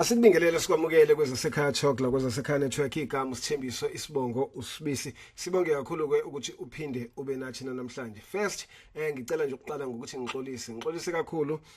Asikubingelele sikwamukele kwezasekhaya talk la kwezasekhaya network igama usithembiso isibongo usibisi sibonge kakhulu ke ukuthi uphinde ube nathi namhlanje first eh ngicela nje ukuqala ngokuthi ngixolise ngixolise kakhulu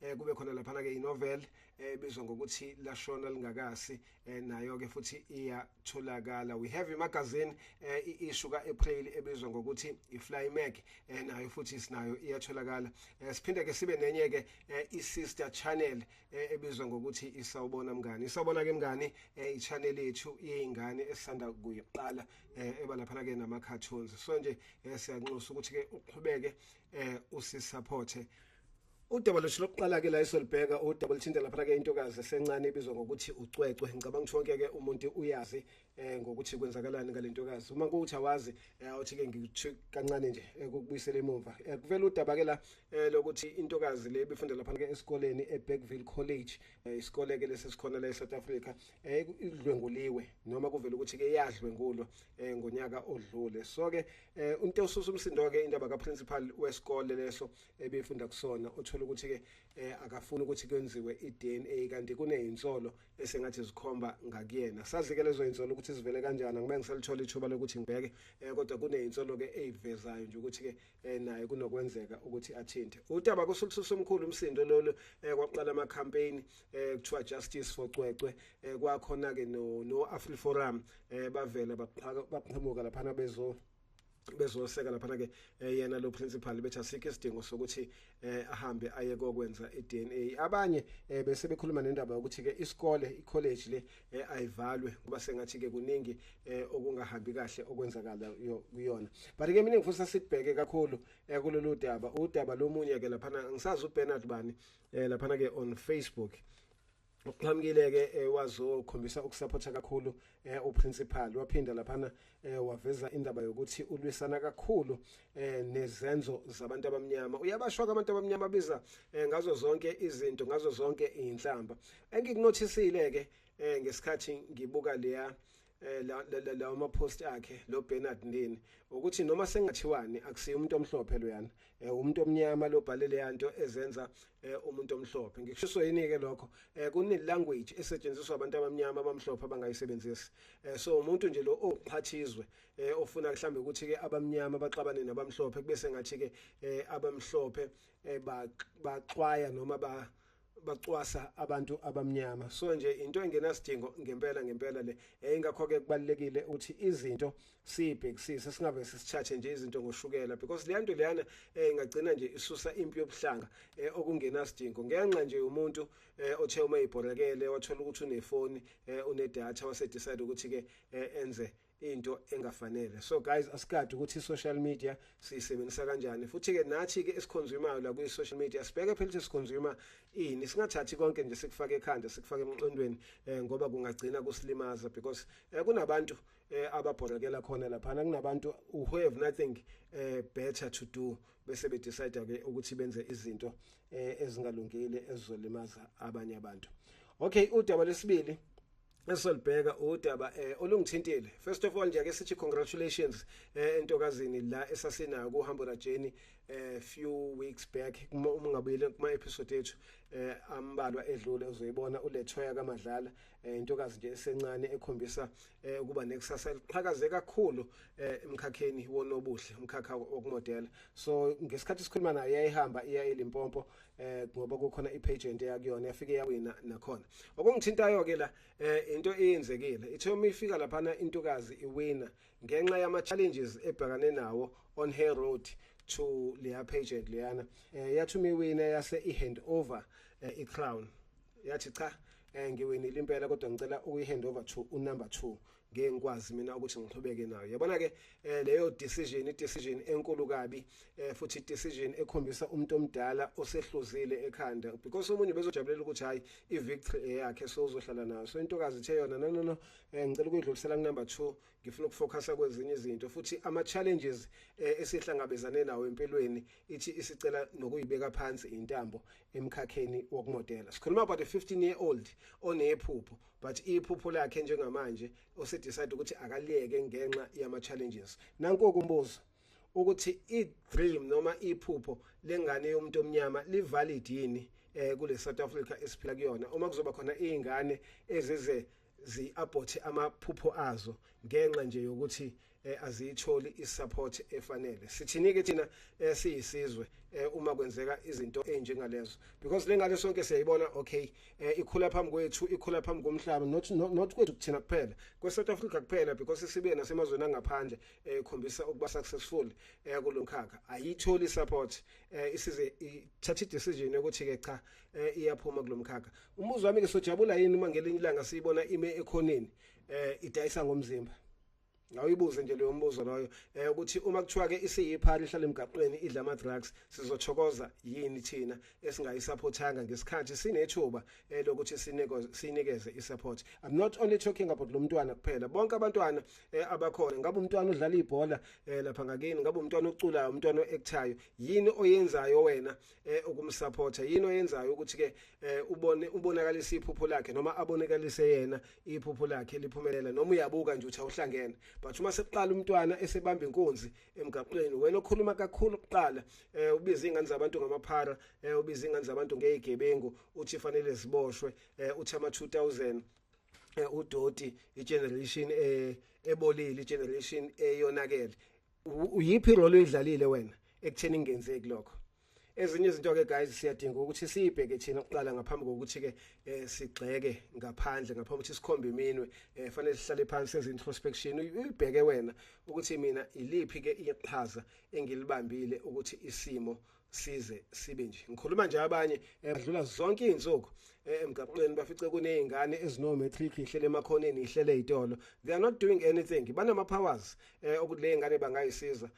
eh kube khona laphana ke inovel ebizwa eh, ngokuthi lashona lingakasi eh, nayo ke futhi iyatholakala we have imagazine eh, i-issue ka-april ebizwa ngokuthi i-fly mac eh, nayo futhi sinayo iyatholakala eh, siphinde ke sibe nenye ke eh, i-sister channel eh, ebizwa ngokuthi isawubona mngani isawubona ke mngani eh, i-channel yethu yey'ngane esisanda kuyiqala eh, eba laphana ke nama-cartoons so nje eh, siyanxusa ukuthi ke uqhubeke eh, usisaphothe Udaba lwethu lokuqala ke la esolibheka udaba oluthinta lapha ke intokazi esencane ibizwa ngokuthi ucwecwe ngicabanga ukuthi wonke ke umuntu uyazi eh ngokuthi kwenzakalani ngalentokazi uma kuthi awazi eh, awuthi ke ngikuthi kancane nje eh, ukubuyisela emuva eh, kuvela udaba ke la lokuthi intokazi le bifunda lapha ke esikoleni eBeckville College isikole ke lesesikhona la eSouth Africa idlwenguliwe noma kuvela ukuthi ke yadlwengulwa ngonyaka odlule so ke unto ususa umsindo ke indaba ka principal wesikole leso ebefunda kusona uthola ukuthi ke eh, akafuni ukuthi kwenziwe iDNA kanti kunezinsolo esengathi zikhomba ngakuyena sazi ke lezo insolo ukuthi sivele kanjani ngibe ngiselithola ithuba lokuthi ngibheke eh, kodwa kunezinsolo ke ezivezayo nje ukuthi ke eh, naye kunokwenzeka ukuthi athinte udaba kusukususa umkhulu umsindo lolu eh, kwaqala ama campaign eh, kuthiwa justice for Cwecwe eh, kwakhona ke no no Afri Forum eh, bavela baqhamuka lapha bezo bezoseka lapha ke eh, yena lo principal bethi asikho isidingo sokuthi eh, ahambe aye kokwenza iDNA abanye eh, bese bekhuluma nendaba yokuthi ke isikole icollege le ayivalwe kuba sengathi ke kuningi okungahambi kahle okwenzakala kuyona but ke mina ngifuna sibheke kakhulu kulolu daba udaba lomunye ke lapha ngisazi uBernard bani lapha ke on Facebook uqhamukile ke eh, wazokhombisa ukusupporta kakhulu eh, uprincipal waphinda laphana eh, waveza indaba yokuthi ulwisana kakhulu nezenzo zabantu abamnyama uyabashwa abantu abamnyama biza ngazo zonke izinto ngazo zonke inhlamba engikunothisile ke ngesikhathi ngibuka leya eh la la la uma post akhe lo Bernard Ndini ukuthi noma sengathiwani akusiyo umuntu omhlophe loyana eh umuntu omnyama lo bhale leyanto ezenza eh umuntu omhlophe ngikushiso yini ke lokho eh kune language esetshenziswa abantu abamnyama abamhlophe abangayisebenzisi eh so umuntu nje lo oqhathizwe eh ofuna mhlambe ukuthi ke abamnyama baxabane nabamhlophe kube sengathi ke eh abamhlophe eh baxwaya noma ba bacwasa abantu abamnyama so nje into engenasidingo ngempela ngempela le eh ingakho ke kubalekile ukuthi izinto sibhekisise singabe sisithathe nje izinto ngoshukela because le nto leyana eh ingagcina nje isusa impi yobuhlanga eh okungenasidingo ngenxa nje umuntu eh othe uma ibhorekele wathola ukuthi unefoni eh unedata wase decide ukuthi ke eh, enze into engafanele so guys asikade ukuthi social media siyisebenzisa kanjani futhi ke nathi ke esiconsumayo la kwi social media sibheke phela ukuthi siconsumer ini singathathi konke nje sikufake ekhanda sikufake emqondweni eh, ngoba kungagcina kusilimaza because eh, kunabantu eh, ababhorekela khona lapha kunabantu who have nothing eh, better to do bese be decide ke ukuthi benze izinto eh, ezingalungile ezizolimaza abanye abantu okay udaba lesibili esolibheka udaba eh olungithintile first of all nje ake sithi congratulations eh entokazini la esasinayo kuhambo rajeni eh few weeks back uma ungabuyele kuma episode ethu eh ambalwa edlule uzoyibona ulethwaya kamadlala eh intokazi nje esencane ekhombisa eh ukuba nekusasa eliqhakaze kakhulu eh emkhakheni wonobuhle umkhakha wokumodela so ngesikhathi sikhuluma naye yayihamba iya eLimpopo eh ngoba kukhona ipage ento yakuyona yafike yawina nakhona okungithintayo ke la eh into eyenzekile ithe uma ifika laphana intokazi iwina ngenxa yama challenges ebhekane nawo on her road to leya page leyana eh yathi uma iwina yase i hand over eh, i crown yathi cha eh ngiwinile impela kodwa ngicela ukuyi hand over to u number 2 ngeke ngikwazi mina ukuthi ngiqhubeke nayo yabona ke eh, leyo decision i decision enkulu kabi eh, futhi i decision ekhombisa umuntu omdala osehluzile ekhanda because umuntu bezojabulela ukuthi hayi i victory yakhe so uzohlala nayo so intokazi ithe yona no no no eh, ngicela ukuyidlulisela ku number 2 ngifuna ukufocusa kwezinye izinto futhi ama challenges esihlangabezane nawo empilweni ithi isicela nokuyibeka phansi intambo emkhakheni wokumodela sikhuluma about a 15 year old onephupho but iphupho lakhe njengamanje usedecide ukuthi akaliyeke ngenxa yama-challenges nanku okumbuzo ukuthi i-dream noma iphupho lengane yomuntu omnyama livalid yini eh kule South Africa esiphila kuyona uma kuzoba khona izingane ezize ziabhothe amaphupho azo ngenxa nje yokuthi eh, aziyitholi isupport efanele sithini ke thina eh, siyisizwe eh, uma kwenzeka izinto enjengalezo because lengane sonke siyayibona okay eh, ikhula phambi kwethu ikhula phambi komhlaba not not, not kwethu kuthina kuphela kwe South Africa kuphela because sibe nasemazweni angaphandle eh, ikhombisa eh, ukuba successful eh, kulomkhakha ayitholi support eh, isize ithatha decision yokuthi ke cha eh, iyaphuma kulomkhakha umbuzo wami ke sojabula yini uma ngelinye ilanga siyibona ime ekhoneni eh, idayisa ngomzimba ngawuyibuze nje leyo mbuzo loyo eh ukuthi uma kuthiwa ke isiyiphani ihlala emgaqweni idla ama drugs sizochokoza yini thina esingayisupportanga ngesikhathi sinethuba eh, lokuthi sinikeze sinikeze isupport i'm not only talking about lo mntwana kuphela bonke abantwana eh, abakhona ngabe umntwana udlala ibhola eh, lapha ngakini ngabe umntwana oculayo umntwana oactayo yini oyenzayo wena eh ukumsupporta yini oyenzayo ukuthi ke eh, ubone ubonakalisa iphupho lakhe noma abonakalise yena iphupho lakhe liphumelela noma uyabuka nje uthi awuhlangene but uma sekuqala umntwana esebamba inkunzi emgaqweni wena okhuluma kakhulu kuqala eh ubiza ingane zabantu ngamaphara eh ubiza ingane zabantu ngeyigebengu uthi fanele ziboshwe eh uthi ama 2000 eh, udoti igeneration eh ebolile igeneration eyonakele uyiphi ingqolo idlalile wena ekutheni ingenzeki lokho ezinye izinto ke guys siyadinga ukuthi siyibheke thina kuqala ngaphambi kokuthi ke eh, sigxeke ngaphandle ngaphambi ukuthi sikhombe iminwe eh, fanele sihlale phansi senze introspection uyibheke wena ukuthi mina iliphi ke iqhaza engilibambile ukuthi isimo size sibe nje ngikhuluma nje abanye eh, badlula zonke izinsuku eh, emgaqweni bafice kunezingane ezino matric ihlele emakhoneni ihlele izitolo they are not doing anything banama powers eh, ukuthi le ngane bangayisiza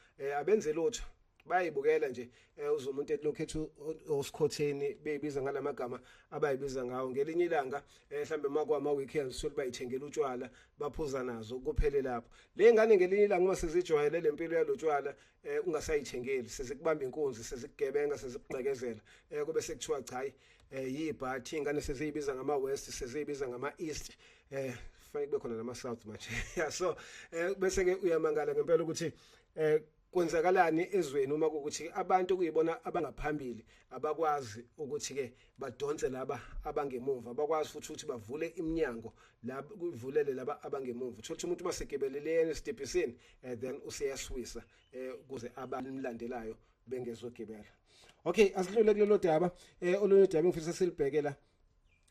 abenze lutho bayibukela nje eh, uze umuntu etilokhu ethi osikhotheni beyibiza ngalamagama abayibiza ngawo ngelinye ilanga eh, mhlambe makwama weekends sokuthi bayithengela utshwala baphuza nazo kuphele lapho le ngane ngelinye ilanga uma sizijwayele lempilo yalotshwala eh ungasayithengeli sezikubamba inkunzi sezikugebenga sezikugqekezela eh kube sekuthiwa cha hayi eh yibhathi ingane seziyibiza ngama west seziyibiza ngama east eh fanele kube khona nama south manje yeah so eh bese ke uyamangala ngempela ukuthi eh kwenzakalani ezweni uma ukuthi abantu kuyibona abangaphambili abakwazi ukuthi ke badonse laba abangemuva bakwazi futhi ukuthi bavule iminyango la kuvulele laba abangemuva uthola umuntu masegebelele yena esitebhisini and eh, then useyaswisa eh, kuze abamlandelayo bengezogebela okay asidlule kulelo daba eh, olunye daba engifisa silibhekela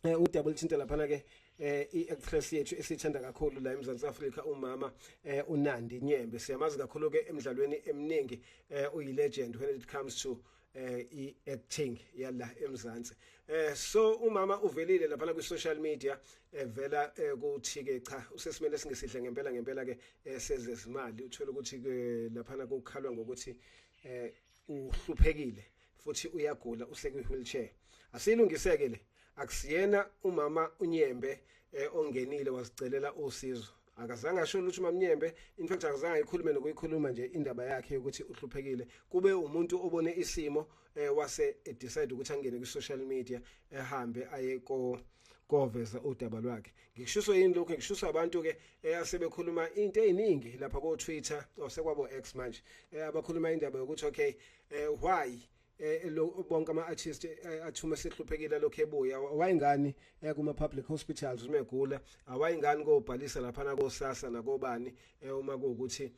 eh udaba olithinta laphana ke eh i-actress yethu esithanda kakhulu la eMzantsi Afrika umama eh uNandi Nyembe siyamazi kakhulu ke emidlalweni eminingi eh uyilegend when it comes to eh i-acting yala eMzansi eh so umama uvelile lapha ku social media evela eh, ukuthi ke cha usesimene singesihle ngempela ngempela ke eh, sezezimali uthola ukuthi ke lapha kukhalwa ngokuthi eh uhluphekile futhi uyagula usekwi wheelchair asilungiseke le akusiyena umama unyembe eh, ongenile wazicelela usizo akazange asho lutho mamnyembe in fact akazange ayikhulume nokuyikhuluma nje indaba yakhe yokuthi uhluphekile kube umuntu obone isimo eh, wase eh, decide ukuthi angene ku social media ehambe eh, aye ko koveza udaba lwakhe ngikushiso yini lokho ngikushiso abantu ke eyasebekhuluma eh, into eziningi lapha ko Twitter osekwabo oh, X manje eh, abakhuluma indaba yokuthi okay eh, why eh lo bonke ama artists eh, athuma sehluphekile lokho ebuya wayengani eh, kuma public hospitals uma egula awayengani kobhalisa lapha na kosasa nakobani eh, uma kuukuthi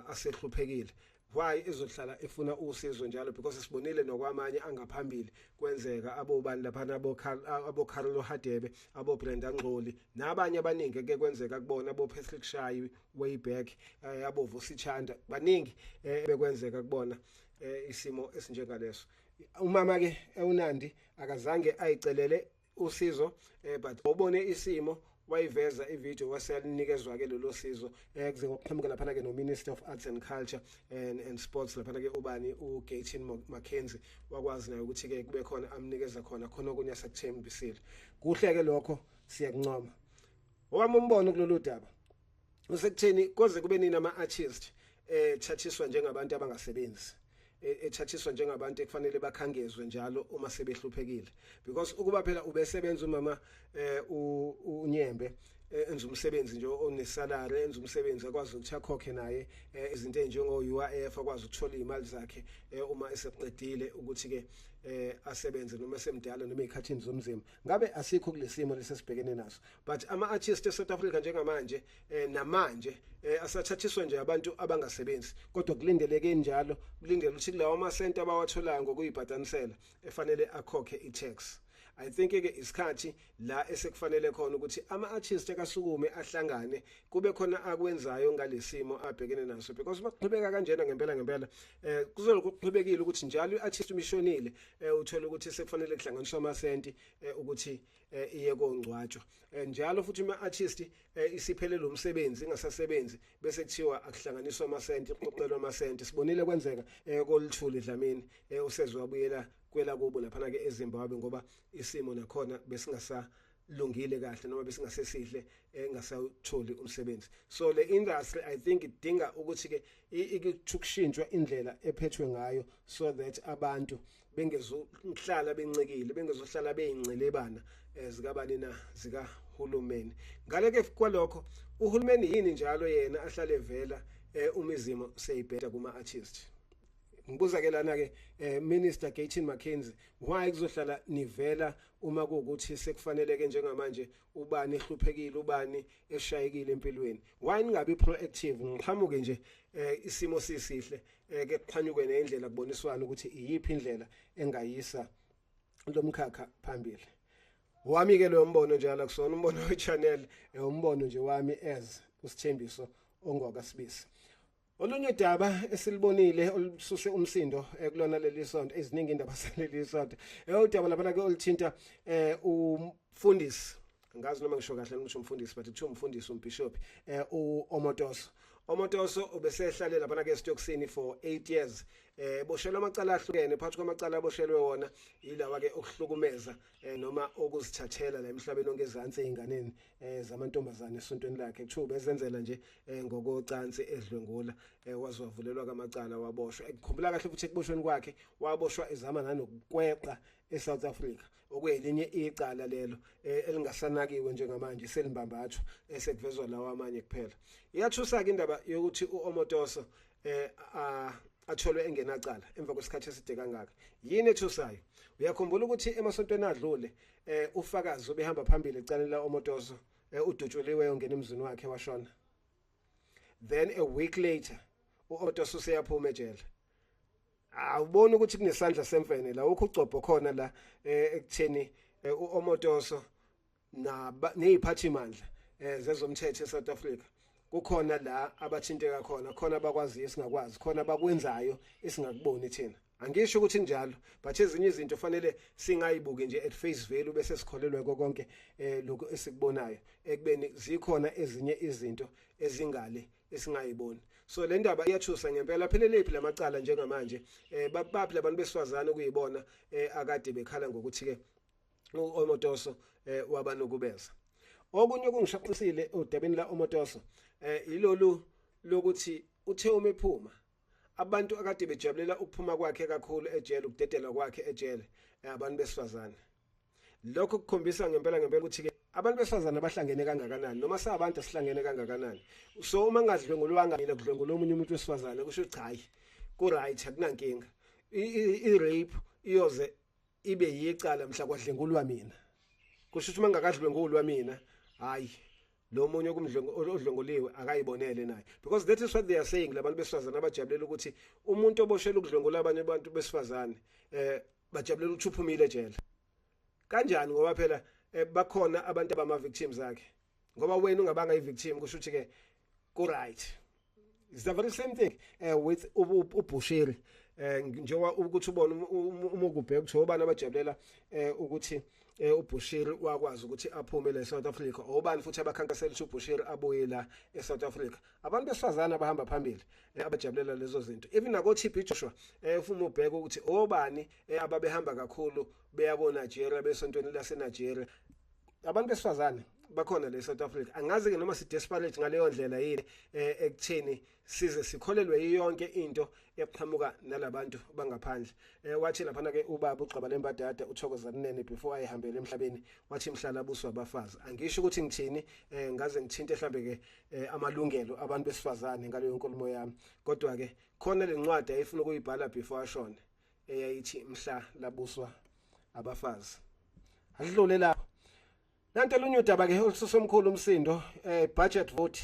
asehluphekile why izohlala efuna usizo njalo because sibonile nokwamanye angaphambili kwenzeka abobani lapha nabo abo Carlo Hadebe abo Brenda Ngxoli nabanye abaningi ke kwenzeka kubona abo Patrick Shayi way back eh, abo Vusi Chanda baningi eh, bekwenzeka kubona eh isimo esinjengaleso umama ke ewunandi akazange ayicelele usizo eh but ubone isimo wayiveza ivideo waseyalinikezwa ke lelo sizo eh kuze ngokuqhamuka laphana ke no Minister of Arts and Culture and and Sports laphana ke ubani u Gatin Mackenzie wakwazi naye ukuthi ke kube khona amnikeza khona khona okunye sakuthembisile kuhle ke lokho siyakuncoma owami umbono kulolu daba usekutheni koze kube nini ama artist eh thathiswa njengabantu abangasebenzi e, ethathiswa njengabantu ekufanele bakhangezwe njalo uma sebehluphekile because ukuba phela ubesebenza umama eh unyembe eh, enza umsebenzi nje onesalary enza umsebenzi akwazi ukuthi akhokhe naye eh, izinto enjengo UIF akwazi ukuthola imali zakhe eh, uma eseqedile ukuthi ke asebenze noma semdala noma ezikhathini zomzimba ngabe asikho kulesimo lesesibhekene naso but ama artists eSouth Africa njengamanje eh, namanje eh, asathathiswa nje abantu abangasebenzi kodwa kulindeleke njalo kulindele ukuthi kulawa ma center abawatholayo ngokuyibhatanisela efanele akhokhe i tax i think ke isikhathi la esekufanele khona ukuthi ama artists akasukume ahlangane kube khona akwenzayo ngalesimo abhekene naso because bakuqhubeka kanjena ngempela ngempela eh kuzolokuqhubekile ukuthi njalo iartist umishonile eh uthola ukuthi sekufanele kuhlanganiswa amasenti eh, ukuthi eh, iye kongcwatshwa eh, njalo futhi uma artist isiphelele umsebenzi ingasasebenzi bese kuthiwa akuhlanganiswa amasenti kuqoqelwa amasenti sibonile kwenzeka kolithuli dlamini usezwe wabuyela kwela kubo lapha ke eZimbabwe ngoba isimo nakhona besingasa lungile kahle noma besingasesihle engasawutholi eh, umsebenzi so le industry i think idinga ukuthi ke ikushintshwa indlela ephethwe ngayo so that abantu bengezohlala bencikile bengezohlala beyincelebana eh, zikabani na zika hulumeni ngale ke kwalokho uhulumeni yini njalo yena ahlale vela eh, umizimo seyibheda kuma artist ngibuza ke lana ke eh, minister Gatin McKenzie why kuzohlala nivela uma kuwukuthi sekufanele ke njengamanje ubani ehluphekile ubani eshayekile empilweni why ningabi proactive ngiqhamuke nje eh, isimo sisihle eh, ke kuqhanyuke neindlela kuboniswana ukuthi iyiphi indlela engayisa lomkhakha phambili wami ke lo mbono njalo kusona umbono we channel eh, umbono nje wami as usithembiso ongwakasibisi Olunye udaba esilibonile olususe umsindo eh, kulona leli sonto eziningi indaba saleli sonto eyodaba eh, labana ke olithinta eh umfundisi ngazi noma ngisho kahle ngisho umfundisi but kuthiwa umfundisi umbishop eh uOmotoso Omotoso ubesehlale labana ke estoksini for 8 years eh boshelwa amacala ahlukene phakathi kwamacala aboshelwe wona yilawa ke okuhlukumeza eh noma okuzithathela la emhlabeni onke ezansi einganeni eh zamantombazane esontweni lakhe kuthiwa bezenzela nje eh ngokocansi edlwengula eh wazwavulelwa kamacala waboshwa ekukhumbula kahle ukuthi ekuboshweni kwakhe waboshwa ezama nanokukweqa eSouth Africa okuyelinye icala lelo eh, elingasanakiwe njengamanje selimbambathwa esekuvezwa lawa amanye kuphela iyathusa ke indaba yokuthi uOmotoso eh atholwe engenacala emva kwesikhathi eside kangaka yini ethusayo uyakhumbula ukuthi emasontweni adlule eh ufakazi obehamba phambili ecaleni la omotoso eh, udutshuliwe yongena emzini wakhe washona then a week later uotoso useyaphuma ejele awuboni ukuthi kunesandla semfene la ukugcobho khona la eh, ekutheni eh, uomotoso neziphathimandla eh, zezomthetho eSouth Africa kukhona la abathinteka khona khona abakwaziyo singakwazi khona abakwenzayo esingakuboni thina angisho ukuthi njalo but ezinye izinto fanele singayibuki nje at face value bese sikholelwe konke eh lokho esikubonayo ekubeni zikhona ezinye izinto ezingale esingayiboni so le ndaba iyathusa ngempela pheleliphi lamacala njengamanje eh babaphi labantu besifazane kuyibona eh akade bekhala ngokuthi ke uMotoso eh, wabanukubeza okunye okungishaqisile udabeni la uMotoso eh, yilolu lokuthi uthe uma ephuma abantu akade bejabulela ukuphuma kwakhe kakhulu ejele ukudedelwa kwakhe ejele eh, abantu besifazane lokho kukhombisa ngempela ngempela ukuthi ke abantu besifazane abahlangene kangakanani noma sabantu sihlangene kangakanani so uma ngadlwengulwanga mina kudlwengula omunye umuntu wesifazane kusho cha hayi ku right akunankinga i rape iyoze ibe yicala mhla kwadlengulwa mina kusho ukuthi mangakadlwengulwa mina hayi lo munye odlwenguliwe akayibonele naye because that is what they are saying labantu besifazane abajabulela ukuthi umuntu oboshelwe ukudlwengula abanye abantu besifazane eh bajabulela ukuthi uphumile ejele kanjani ngoba phela eh, bakhona abantu abama victims akhe ngoba wena ungabanga i victim kusho ukuthi ke ku right It's the very same thing uh, with uBushiri uh, eh, njengoba ukuthi ubona um, um, uma ukubheka ukuthi obani abajabulela uh, ukuthi uh, uBushiri wakwazi ukuthi aphume la eSouth Africa obani futhi abakhankasela ukuthi uBushiri abuye la eSouth Africa abantu besifazana abahamba phambili uh, abajabulela lezo zinto even nako TB Joshua uh, ufuma ubheka ukuthi obani uh, ababehamba kakhulu beya ko Nigeria besontweni lase Nigeria abantu besifazane bakhona le South Africa angazi ke noma si desperate ngaleyo ndlela yini eh, ekutheni size sikholelwe yonke into eqhamuka nalabantu bangaphandle eh, wathi lapha ke ubaba ugxaba lembadada uthokoza kunene before ayihambele emhlabeni wathi mhlala buswa abafazi angisho ukuthi ngithini eh, ngaze ngithinte mhlambe ke eh, amalungelo abantu besifazane ngaleyo nkulumo yami kodwa ke khona lencwadi ayifuna ukuyibhala before ashone eyayithi mhla labuswa abafazi adlule lapho Nanto lunye udaba ke ususa omkhulu umsindo eh budget vote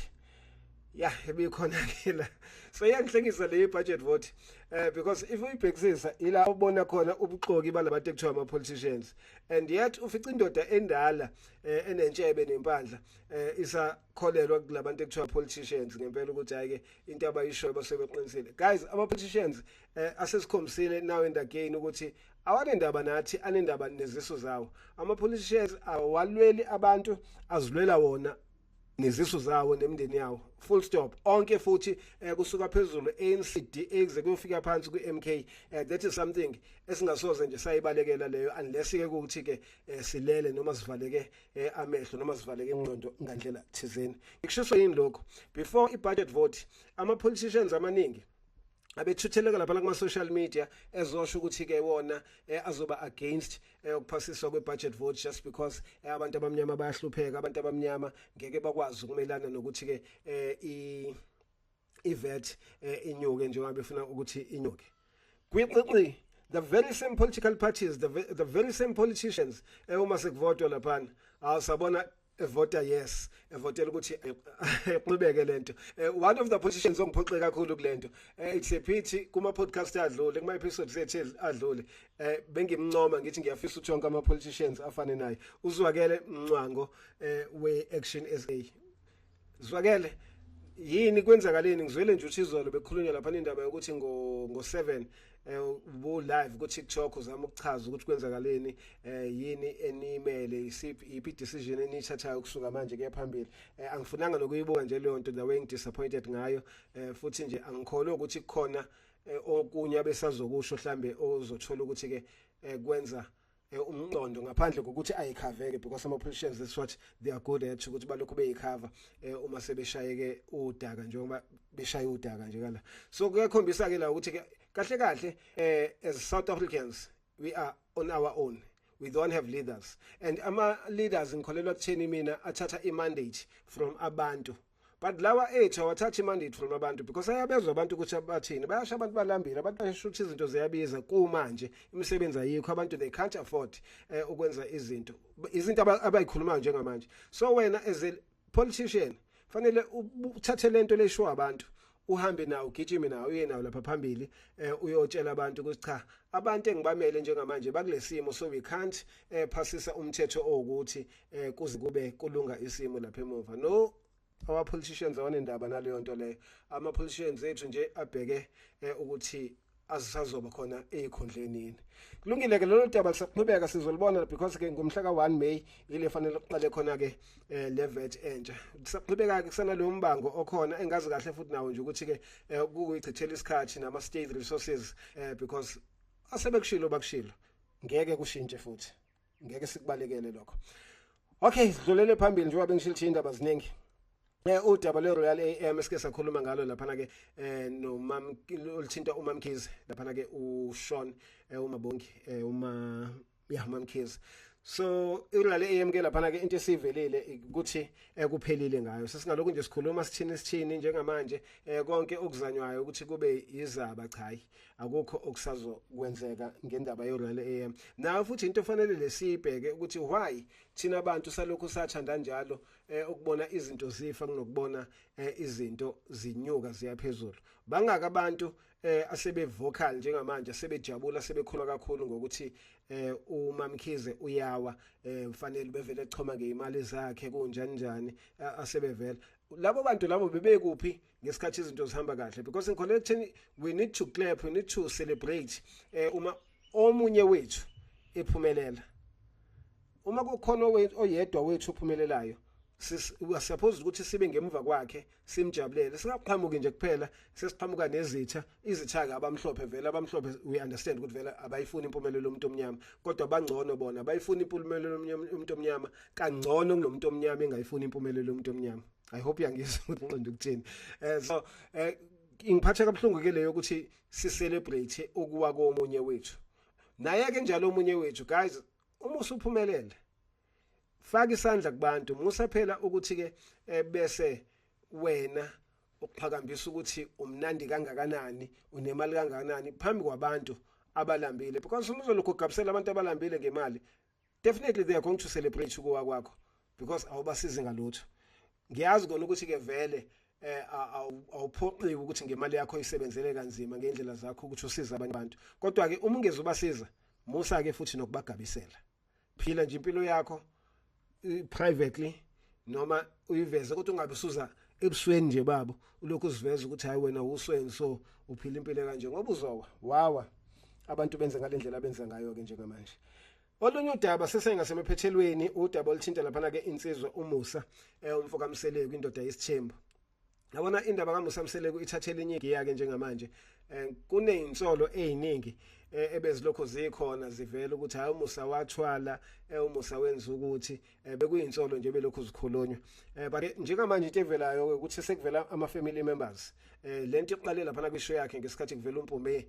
ya ebikhona ke la so iyangihlekisa le budget vote eh because if uyibhekisisa ila ubona khona ubuxoki balabantu ekuthiwa ama politicians and yet ufica indoda endala eh, enentshebe nempandla eh, isa kholelwa kulabantu ekuthiwa politicians ngempela ukuthi ayike into abayishoyo basebeqinisile guys ama politicians eh asesikhombisile now and again ukuthi awanendaba nathi anendaba nezisu zawo ama police shares awalweli abantu azilwela wona nezisu zawo nemndeni yawo full stop onke futhi eh, kusuka phezulu ANC DA kuze kuyofika phansi ku MK eh, that is something esingasoze nje sayibalekela leyo unless ke ukuthi ke eh, silele noma sivaleke eh, amehlo noma sivaleke ingqondo ngandlela thizeni ngikushiso yini lokho before i budget vote ama politicians amaningi abethutheleka lapha kuma social media ezosho ukuthi ke wona eh, azoba against eh, ukuphasiswa kwe budget vote just because eh, abantu abamnyama bayahlupheka abantu abamnyama ngeke bakwazi ukumelana nokuthi ke eh, i ivet eh, inyuke njengoba befuna ukuthi inyuke kwiqinqi the very same political parties the, the very same politicians eh, uma sekuvotwa lapha awusabona evota yes evotela ukuthi eh, iqhubeke lento eh, one of the politicians ongiphoxe kakhulu kulento eh, it's a pity kuma podcast adlule kuma episodes ethe adlule bengimncoma ngithi ngiyafisa uthonke ama politicians afane naye uzwakele mncwango we action SA zwakele yini kwenzakaleni ngizwele nje ukuthi izolo bekhulunywa lapha indaba yokuthi ngo ngo 7 eh bu live ku TikTok uzama ukuchaza ukuthi kwenzakaleni eh yini enimele isiphi iphi decision enithathayo kusuka manje kuya phambili eh angifunanga nokuyibuka nje leyo nto nawe ngidisappointed ngayo eh futhi nje angikholwa ukuthi kukhona eh, okunye abesazokusho mhlambe ozothola ukuthi ke eh, kwenza eh, umqondo ngaphandle kokuthi ayikhaveke because ama politicians is what they are good at ukuthi balokhu beyikhava eh, uma sebeshayeke udaka njengoba beshaya udaka nje kala so kuyakhombisa ke la ukuthi kahle kahle eh, as South Africans we are on our own we don't have leaders and ama leaders ngikholelwa kutheni mina athatha i mandate from abantu but lawa ethu awathathi imandate from abantu because ayabezwa abantu ukuthi abathini bayasho abantu balambile abantu bayasho ukuthi izinto ziyabiza kumanje imisebenzi ayikho abantu they can't afford eh, ukwenza izinto izinto abayikhulumayo njengamanje so wena as a politician fanele uthathe lento leshiwa abantu uhambe nawo ugijime nawo uye nawo lapha phambili eh, uyotshela abantu ukuthi cha abantu engibamele njengamanje bakulesimo so we can't eh, phasisa umthetho owukuthi eh, kuze kube kulunga isimo lapha emuva no our politicians awanendaba naleyo nto leyo ama politicians ethu nje abheke eh, ukuthi azisazoba khona ezikhundleni yini kulungile ke lolu daba kusaqhubeka sizolibona because ke ngomhla ka1 May ile fanele uqale khona ke eh, le vet entsha kusaqhubeka ke kusana lo mbango okhona engazi kahle futhi nawo nje ukuthi ke eh, ukuyichithela isikhathi nama state resources eh, because asebekushilo bakushilo ngeke kushintshe futhi ngeke sikubalekele lokho okay sidlulele phambili njengoba bengishilo ukuthi indaba ziningi Eh udaba le Royal AM esike sakhuluma ngalo laphana ke eh no mam olithinta umamkhize laphana ke u Sean eh umabongi eh uma ya mamkhize so irulale AM ke laphana ke into esivelile ukuthi ekuphelile eh, ngayo sesingalokhu nje sikhuluma sithini sithini njengamanje eh konke okuzanywayo ukuthi kube izaba cha hayi akukho okusazokwenzeka ngendaba yoRoyal AM nayo futhi into efanele lesibheke ukuthi why thina abantu salokhu sathanda njalo eh, ukubona izinto zifa kunokubona eh, izinto zinyuka ziyaphezulu bangaka abantu eh, asebe vocal njengamanje sebejabula sebekhulwa kakhulu ngokuthi eh, uMamkhize uyawa eh, mfanele bevele echoma ngeimali zakhe kunjani njani asebevela labo bantu labo bebekuphi ngesikhathi izinto zihamba kahle because ngikholelwa ekutheni we need to clap we need to celebrate eh uma omunye wethu ephumelela uma kukhona oyedwa wethu ophumelelayo siyaphoza ukuthi sibe ngemuva kwakhe simjabulele singaqhamuki nje kuphela sesiqhamuka nezitha izithaka abamhlophe vele abamhlophe we understand ukuthi vele abayifuni impumelelo yomuntu omnyama kodwa bangcono bona bayifuna impumelelo yomuntu omnyama kangcono kunomuntu omnyama engayifuni impumelelo yomuntu omnyama i hope uyangizwa ukuthi nqonde ukuthini eh so eh ingiphatha kabuhlungu ke leyo ukuthi si celebrate ukuwa komunye wethu naye ke njalo omunye wethu guys uma usuphumelele faka isandla kubantu musa phela ukuthi ke eh, bese wena ukuphakambisa ukuthi umnandi kangakanani unemali kangakanani phambi kwabantu abalambile because uma uzolokhu ugabisela abantu abalambile ngemali definitely they are going to celebrate ukuwa kwakho because awubasizi ngalutho ngiyazi kona ukuthi ke vele eh awuphoqiwe ukuthi ngemali yakho isebenzele kanzima ngendlela zakho ukuthi usize abanye abantu kodwa ke uma ungeze ubasiza musa ke futhi nokubagabisela phila nje impilo yakho privately noma uyiveze kodwa ungabe usuza ebusweni nje babo ulokhu uziveza ukuthi hayi wena usweni so uphila impilo kanje ngoba uzowa wawa abantu benze ngalendlela benza ngayo ke njengamanje Olunye udaba sesengasemephethelweni udaba oluthinta lapha ke insizwa uMusa eh umfoka Mseleku indoda yesithembu yabona indaba kaMusa Mseleku ithathele inye iyake njengamanje eh, kunezinsolo eziningi eh, ebezilokho zikhona zivela ukuthi hayi umusa wathwala eh, umusa wenza ukuthi bekuyinsolo nje belokho zikhulunywa but njengamanje into evelayo ukuthi sekuvela ama family members lento iqale lapha na kwisho yakhe ngesikhathi kuvela umpumbe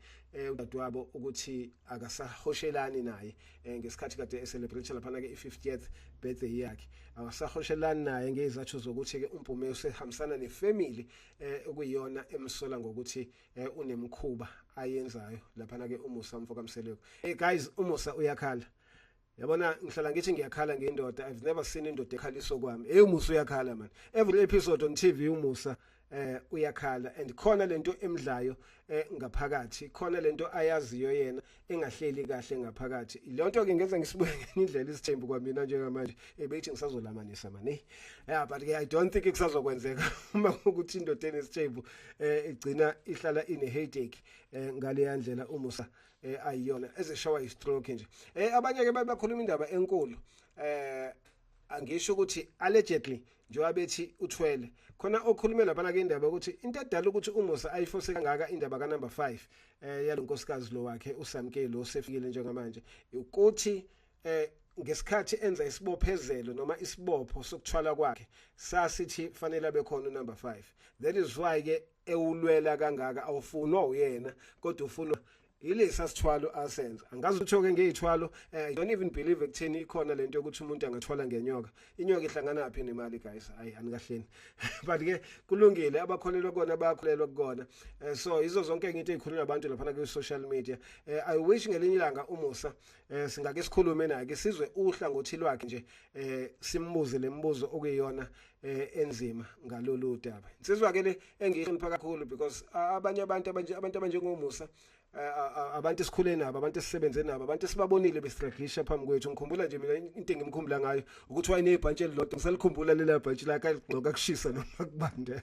udadewabo ukuthi akasahoshelani naye eh, ngesikhathi kade eselebrate laphana ke i-50th birthday yakhe awasahoshelani naye ngezathu zokuthi ke uMpume usehambisana nefamily eh, okuyiyona emsola ngokuthi eh, unemkhuba ayenzayo laphana ke umusa mfo kamseleko hey guys umusa uyakhala yabona ngihlala ngithi ngiyakhala ngendoda i've never seen indoda ekhaliso kwami hey umusa uyakhala man every episode on tv umusa eh uyakhala and khona lento emdlayo eh, ngaphakathi khona lento ayaziyo yena engahleli kahle ngaphakathi lonto ke ngenza ngisibuke ngenye indlela isithembu kwamina njengamanje ebethi eh, ngisazolamanisa mani yeah but i don't think kusazokwenzeka uma ukuthi indoda enesithembu eh, igcina ihlala ine headache ngale yandlela umusa ayiyona ezeshawa istroke nje eh abanye ke bakhuluma indaba enkulu eh angisho ukuthi allegedly njengoba bethi uthwele khona okhulume laphana kendaba ukuthi into edala ukuthi umusa ayifose kangaka indaba ka number 5 eh yalonkosikazi lo wakhe uSamkeli osefikile njengamanje ukuthi eh ngesikhathi enza isibophezelo noma isibopho sokuthwala kwakhe sasithi fanele abe khona number 5 that is why ke ewulwela kangaka awufunwa uyena kodwa ufunwa yilesa sithwalo asenza angazi uthoke ngeyithwalo eh, don't even believe ekutheni ikhona lento yokuthi umuntu angathwala ngenyoka inyoka ihlangana yaphi nemali guys hayi anikahleni but ke kulungile abakholelwa kona bayakholelwa kukona eh, so izo zonke into ezikhuluma abantu lapha ku social media eh, i wish ngelinye ilanga umusa eh, singake sikhulume naye ke sizwe uhlangothi lwakhe nje eh, simbuze lemibuzo okuyiyona eh enzima ngalolu daba insizwa ke le engihlonipha kakhulu because abanye abantu abanje abantu abanjengomusa abantu esikhule nabo abantu esisebenze nabo abantu esibabonile bestragisha phambi kwethu ngikhumbula nje mina into engimkhumbula ngayo ukuthi wayenebhantshi elilodwa ngisalikhumbula lela bhantshi lakhe ligcoka kushisa noma kubanda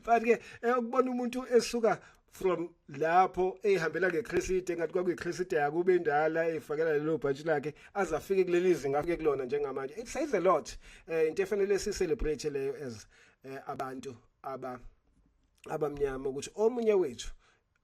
but ke eh, ukubona umuntu esuka from lapho ehambela ngecresite engathi kwakuyicresite yakube indala efakela lelo bhatshi lakhe aze afike kuleli zinga afike kulona njengamanje it says a lot eh, into efanele si celebrate leyo as eh, abantu aba abamnyama ukuthi omunye wethu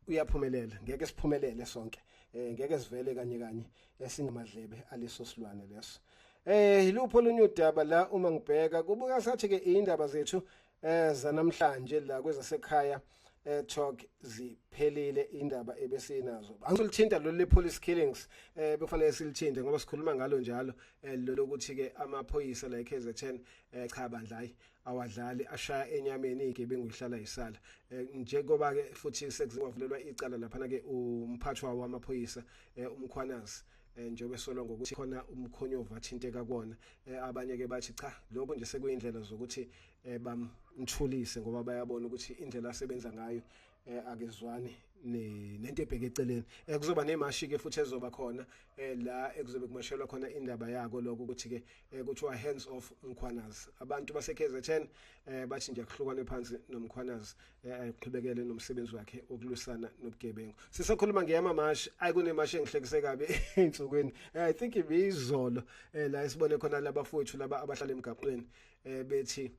uyaphumelela ngeke siphumelele sonke eh ngeke sivele kanye kanye esingamadlebe aleso silwane leso eh yilupho olunye udaba la uma ngibheka kubuka sathi ke indaba zethu eh zanamhlanje la kwezasekhaya eh talk ziphelile indaba ebesinazo angilithinta lo le police killings eh bekufanele silithinte ngoba sikhuluma ngalo njalo eh, lokuthi ke amaphoyisa la eKZN eh cha bandla hayi awadlali ashaya enyameni igebengu ihlala isala eh, njengoba ke futhi sekuzingavulelwa icala lapha ke umphathwa wamaphoyisa eh, umkhwanazi eh, njengoba esolwa ngokuthi khona umkhonyovu athinteka kuwona eh, abanye ke bathi cha lokho nje sekuyindlela zokuthi eh, bamthulise ngoba bayabona ukuthi indlela asebenza ngayo eh, akezwani nento ebheke eceleni eh, kuzoba nemashi ke futhi ezoba khona eh, la ekuzobe kumashelwa khona indaba yako lokho ukuthi ke eh, kuthiwa hands off mkhwanazi abantu base KZN eh, bathi nje kuhlukwane phansi nomkhwanazi aqhubekele eh, eh, nomsebenzi wakhe okulwisana nobugebengu sisakhuluma ngeyamamashi ayi kunemashi engihlekise kabi ey'nsukwini eh, i think ibiyizolo um la esibone khona labafowethu laba abahlala emgaqweni um bethi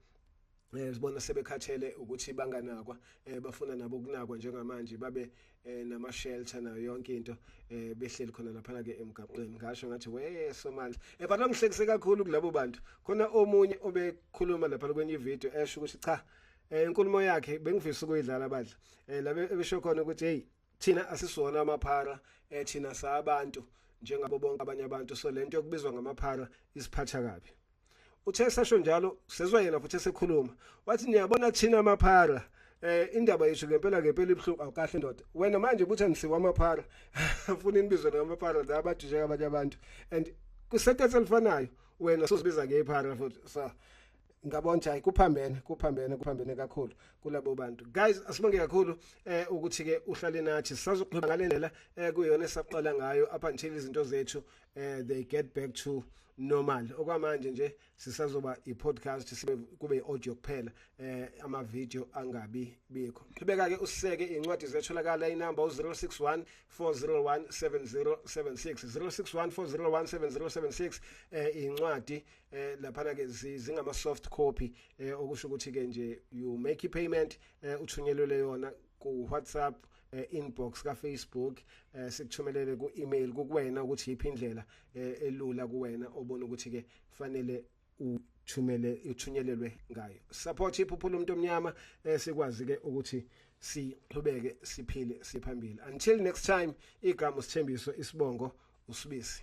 eh sibona sebekhathele ukuthi banganakwa eh bafuna nabo kunakwa njengamanje babe eh, nama shelter nayo yonke into eh behleli khona lapha ke emgaqweni ngasho ngathi we somandla eh but angihlekise kakhulu kulabo bantu khona omunye obekhuluma lapha kwenye video esho ukuthi cha eh inkulumo yakhe bengifisa ukuyidlala badla eh labe ebesho khona ukuthi hey thina asisona amaphara eh thina sabantu njengabo bonke abanye abantu so lento yokubizwa ngamaphara isiphatha kabi uthe sasho njalo sezwa yena futhi esekhuluma wathi niyabona thina amaphara eh indaba yethu ngempela ngempela ibhlungu awukahle ndoda wena manje ukuthi angisiwa amaphara ufuna inibizwe ngamaphara la abadisheka abanye abantu and kusethethe elifanayo wena sozibiza ngephara futhi so ngabonja hayi kuphambene kuphambene kuphambene kakhulu kulabo bantu guys asibonge kakhulu eh ukuthi ke uhlale nathi sisazokhuluma ngalendlela eh kuyona esaqala ngayo up until izinto zethu eh they get back to normal okwamanje nje sisazoba i-podcast sibe kube i-audio kuphela eh ama-video angabi bikho qhubeka ke usiseke iy'ncwadi zetholakala inamba u-061 401 7076 061 401 7076 eh iy'ncwadi eh laphana ke zingama soft copy eh okusho ukuthi ke nje you make i payment eh uthunyelwe yona ku WhatsApp eh, inbox ka Facebook eh, sikuthumelele ku email kuwena ukuthi yiphi indlela eh, elula kuwena obona ukuthi ke fanele uthumele uthunyelelwe ngayo support iphuphula umuntu omnyama eh, sikwazi ke ukuthi siqhubeke siphile siphambili until next time igama usithembiso isibongo usibisi